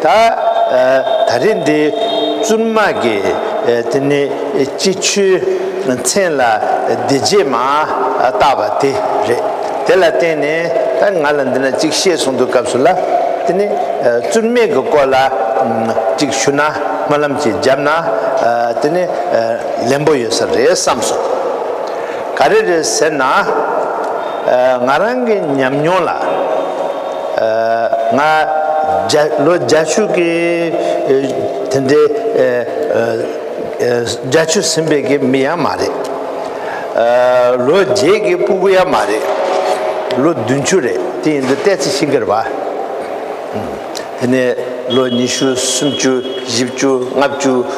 ད་ད་རེས་འདི་བཙུན་མ་གི་དེ་ནི་སྤྱི་ཆོས་མཚན་ལ་བདེ་སྐྱིད་མ་བཏགས་པ་དེ་རེད་དེ་ལ་བརྟེན་ནས་ད་ང་ལ་འདི་ན་གཅིག་བཤད་གསུངས་འདུག་སྐབས་སུ་ལ་དེ་ནི་བཙུན་མའི་གི་སྐོར་ལ་གཅིག་ཞུ་ན་སྨོན་ལམ་གཅིག་བརྒྱབ་ན་དེ་ནི་ལེན་པོ་ཡོད་ས་རེད་བསམས་སོང་ག་རེ་རེད་ཟེར་ན་ང་རང་གི་ཉམས་མྱོང་ལ། ང་རྒྱ་ལོ་རྒྱ་ཆུ་གི་དེ་འདྲའི་རྒྱ་ཆུ་ཟིན་པའི་གི་མི་ཡང་མ་རེད། ལོ་བརྒྱད་གི་སྤུ་གུ་ཡང་མ་རེད། ལོ་བདུན་ཅུ་རེད་དེ་ཡིན་དུ་ཏའི་ཚེ་ཤིང་ཀེར་བ། དེ་ནས་ལོ་ཉི་ཤུ་སུམ་ཅུ་བཞི་བཅུ་ལྔ་བཅུ།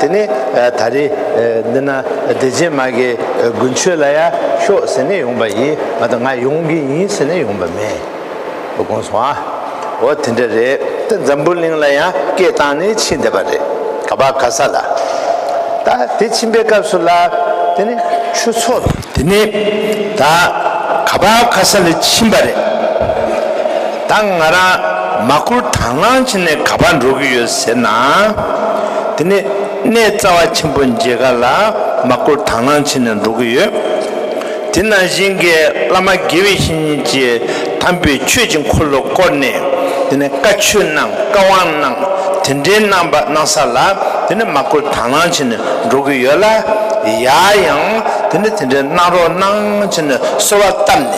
དེ་ནས་ད་རེས་འདི་ན་བདེ་ཆེན་མ་གའི་དགུན་ཆོས་ལ་ཡར་ཤོག་ཟེར་ནས་ཡོང་པ་ཡིན་མ་ད་ང་ཡོང་གི་ཡིན་ཟེར་ནས་ཡོང་པ་མེད་དགོངས་སོང་ཨ་འོ་དེ་འདྲ་རེད་ད་འཛམ་བུ་གླིང་ལ་ཡང་སྐད་བཏང་ནས་ཕྱིན་བསྡད་པ་རེད་ག་བ་ག་ས་ལ་ད་དེ་ཕྱིན་པའི་སྐབས་སུ་ལ་དེ་ནས་ཆོས་ཚོགས་དེ་ནས་ད་ག་པར་ཁ་ས་ལ་ཕྱིན་པ་རེད། ད་ང་རང་མ་ཁུར་དང་བླངས་བྱས་ནས་ག་པར་འགྲོ་གི་ཡོད་ཟེར་ན། དེ་ནས་གནས་རྩ་བ་ཆེན་པོ་མཇལ་ཁ་ལ་མ་ཁུར་དང་བླངས་བྱས་ནས་འགྲོ་གི་ཡོད། དེ་ནང་བཞིན་གྱི་བླ་མ་དགེ་བའི་བཤེས་གཉེན་གྱི་དམ་པའི་ཆོས་ཀྱི་འཁོར་ལོ་བསྐོར་ནས་དེ་ནས་བཀའ་ཆོས་གནང་བཀའ་དབང་གནང་དེ་འདྲའི་གནང་བ་གནང་ས་ལ་དེ་ནས་མ་ཁུར་དང་བླངས་བྱས་ནས་འགྲོ་གི་ཡོད་ལ། ཡ་ཡང་དེ་ནི་དེ་འདྲའི་གནང་རོགས་གནང་བྱས་ནས་གསོལ་བ་བཏབ་ནས།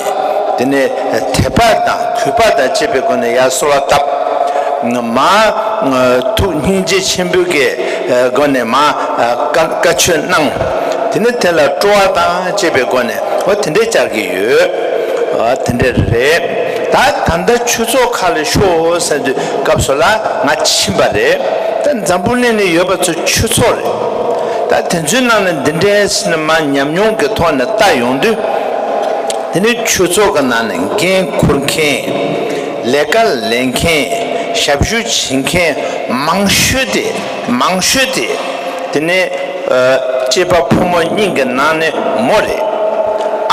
དེ་ནི་དད་པ་དང་གུས་པ་དང་བཅས་པའི་སྒོ་ནས་ཡར་གསོལ་བ་བཏབ། མ་ཐུགས་སྙིང་རྗེ་ཆེན་པོའི་གེ་སྒོ་ནས་མ་བཀའ་ཆོས་གནང། དེ་ནི་དེ་ལ་སྤྲོ་བ་དང་བཅས་པའི་སྒོ་ནས་འོ་དེ་འདྲས་བཅར་གྱི་ཡོད། དེ་འདྲས་རེད་ད། ད་ལྟ་ཆོས་ཚོགས་ཁག་ལ་ཤོག་ཟེར་དུས། སྐབས་སུ་ལ་ང་ཕྱིན་པ་རེད། ད་འཛམ་བུ་གླིང་ནས་ཡོད་པ་ཚོ་ཁྱུ་ཚོགས་རེད། ད་དེ་ཚོའི་ནང་ནས་འདི་འདྲའི་སིནེ་མ་ཉམས་མྱོང་གི་ཐོག་ནས་བལྟ་ཡོང་དུས། དེ་ནི་ཁྱུ་ཚོགས་ཀྱི་ནང་ནས་འགན་འཁུར་མཁན། ལས་ཀ་ལས་མཁན། ཞབས་ཞུ་བྱེད་མཁན་མང་ཤོས་དེ་མང་ཤོས་དེ། དེ་ནི། སྐྱེས་པ་ཕོ་མོ་གཉིས་ཀྱི་ནང་ནས་མོ་རེད།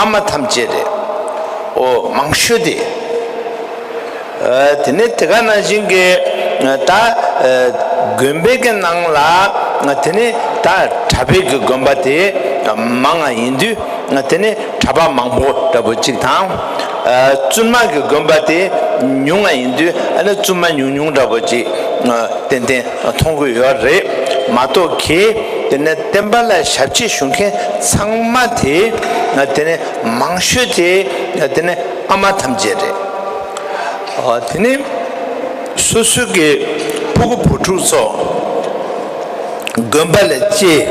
ཨ་མ་ཐམས་ཅད་རེད། འོ་མང་ཤོས་དེ། དེ་ནས་དེ་ག་ན་བཞིན་གྱི་ད་དགོན་པའི་གི་ནང་ལ་དེ་ནས་ད་གྲ་པའི་གི་དགོན་པ་དེ་མང་ང་ཡིན་དུས་དེ་ནས་གྲ་པ་མང་པོ་འདྲ་པོ་གཅིག་དང། བཙུན་མ་གི་དགོན་པ་དེ་ཉུང་ང་ཡིན་དུས་ཨ་ནི་བཙུན་མ་ཉུང་ཉུང་འདྲ་པོ་གཅིག་ཏན་ཏན་མཐོང་གི་ཡོད་རེད་མ་གཏོགས་གི་དེ་ནས་བསྟན་པ་ལ་ཞབས་ཕྱི་ཞུ་མཁན་ཚང་མ་དེ་དེ་ནས་མང་ཤོས་དེ་དེ་ནས། ཨ་མ་ཐམས་ཅད་རེད། དེ་ནི་སོ་སོའི་གི་ཕུ་གུ་བུ་ཕྲུག་ཚོ་དགོན་པ་ལ་སྐྱེས།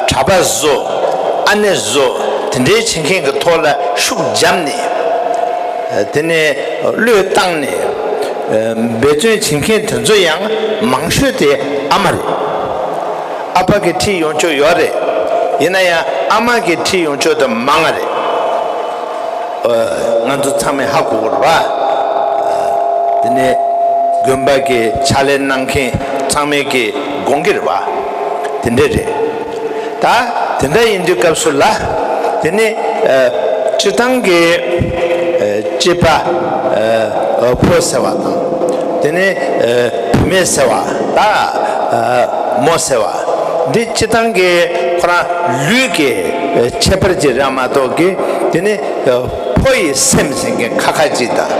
གྲྭ་པ་བཟོ། ཨ་ནེ་བཟོ་དེ་འདྲའི་བྱེད་མཁན་གི་ཐོག་ལ་ཤུགས་བརྒྱབ་ནས། དེ་ནི་བློས་བཏང་ནས་འབད་བརྩོན་བྱེད་མཁན་དེ་ཚོ་ཡང་མང་ཤོས་དེ་ཨ་མ་རེད། ཨ་ཕ་གི་ཁྲིད་ཡོང་ཆོད་ཡོད་རེད། ཡིན་ན་ཡང་ཨ་མ་གི་ཁྲིད་ཡོང་ཆོད་དུ་མ་མངའ་རེད། ང་ཚོ་ཚང་མས་ཧ་གོ་དགོས་རེད། དེ་ནི་དགོན་པ་གི་ཕྱག་ལས་གནང་མཁན་ཚང་མས་ཀྱི་དགོངས་ཀྱི་རེད་བ། དེ་འདྲས་རེད། ད་དེ་འདྲ་ཡིན་དུས་སྐབས་སུ་ལ་དེ་ནི་སྤྱིར་བཏང་གི་སྐྱེས་པ་ཕོ་ཟེར་བ་དང་དེ་ནི་བུད་མེད་ཟེར་བ། ད་མོ་ཟེར་བ་འདི་སྤྱི་བཏང་གི་ཁོ་རང་ལུས་ཀྱི་ཁྱད་པར་གྱི་རང་མ་གཏོགས་ཀྱི་དེ་ནི་ཕོ་ཡི་སེམས་ཟིན་མཁན་ཁ་ཁ་ཅིག་དང་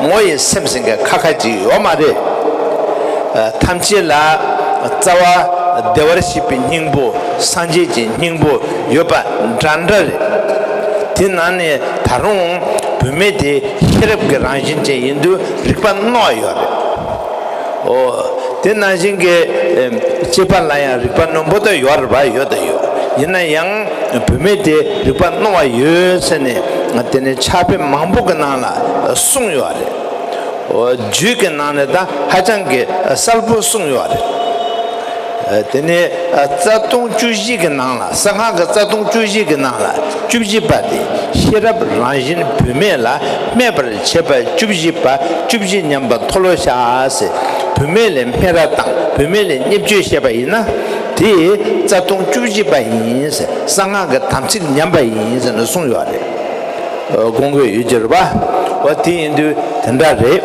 མོ་ཡི་སེམས་ཟིན་མཁན་ཁ་ཁ་ཅིག་ཡོད་མ་རེད། ཐམས་ཅད་ལ་རྩ་བ་བདེ་བར་གཤེགས་པའི་སྙིང་པོ་སངས་རྒྱས་ཀྱི་སྙིང་པོ་ཡོད་པ་འདྲ་འདྲ་རེད། དེ་ནང་ནས་ད་རུང་བུད་མེད་དེ་ཤེས་རབ་ཀྱི་རང་བཞིན་ཅན་ཡིན་དུ་རིགས་པ་རྣོ་ཡོད་རེད། ཨོ། དེ་ནང་བཞིན་གྱི་སྐྱེས་པ་ལ་ཡང་རིག་པ་རྣོན་པོ་དག་ཡོད་རེད་བ་ཡོད་དང་ཡོད། ཡིན་ན་ཡང་བུད་མེད་དེ་རིག་པ་རྣོ་བ་ཡོད་ཟེར་ནས་དེ་ནི་ཕྱག་དཔེ་མང་པོ་གི་ནང་ལ་གསུངས་ཡོད་བ་རེད། ཨོ། རྒྱུད་ཀྱི་ནང་ནས་དང་ཧ་ཅང་གི་གསལ་པོ་གསུངས་ཡོད་བ་རེད། དེ་ནི་རྩ་ལྟུང་བཅུ་བཞི་གི་ནང་ལ་གསང་སྔགས་ཀྱི་རྩ་ལྟུང་བཅུ་བཞི་གི་ནང་ལ་བཅུ་བཞི་པ་དེ་ཤེས་རབ་རང་བཞིན་བུད་མེད་ལ་སྨད་པར་བྱེད་པ་བཅུ་བཞི་པ་བཅུ་བཞི་མཉམ་པར་མཐོལ་ལོ་བཤགས། བུད་མེད་ལས་སྨན་ར་དང་བུད་མེད་ལས་བསྙེབ་སྤྱོད་བཤད་པ་ཡིན་ན། དེས་རྩ་ལྟུང་བཅུ་བཞི་པ་ཡིན། གསང་སྔགས་ཀྱི་དམ་ཚིག་ཉམས་པ་ཡིན་ཟེར་ནས་གསུངས་ཡོད་རེད། དགོངས་དགོས་ཡོད་ཀྱི་རེད་པ། འོ་དེ་ཡིན་དུས་དེ་འདྲ་རེད།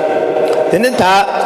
དེ་ནི་ད།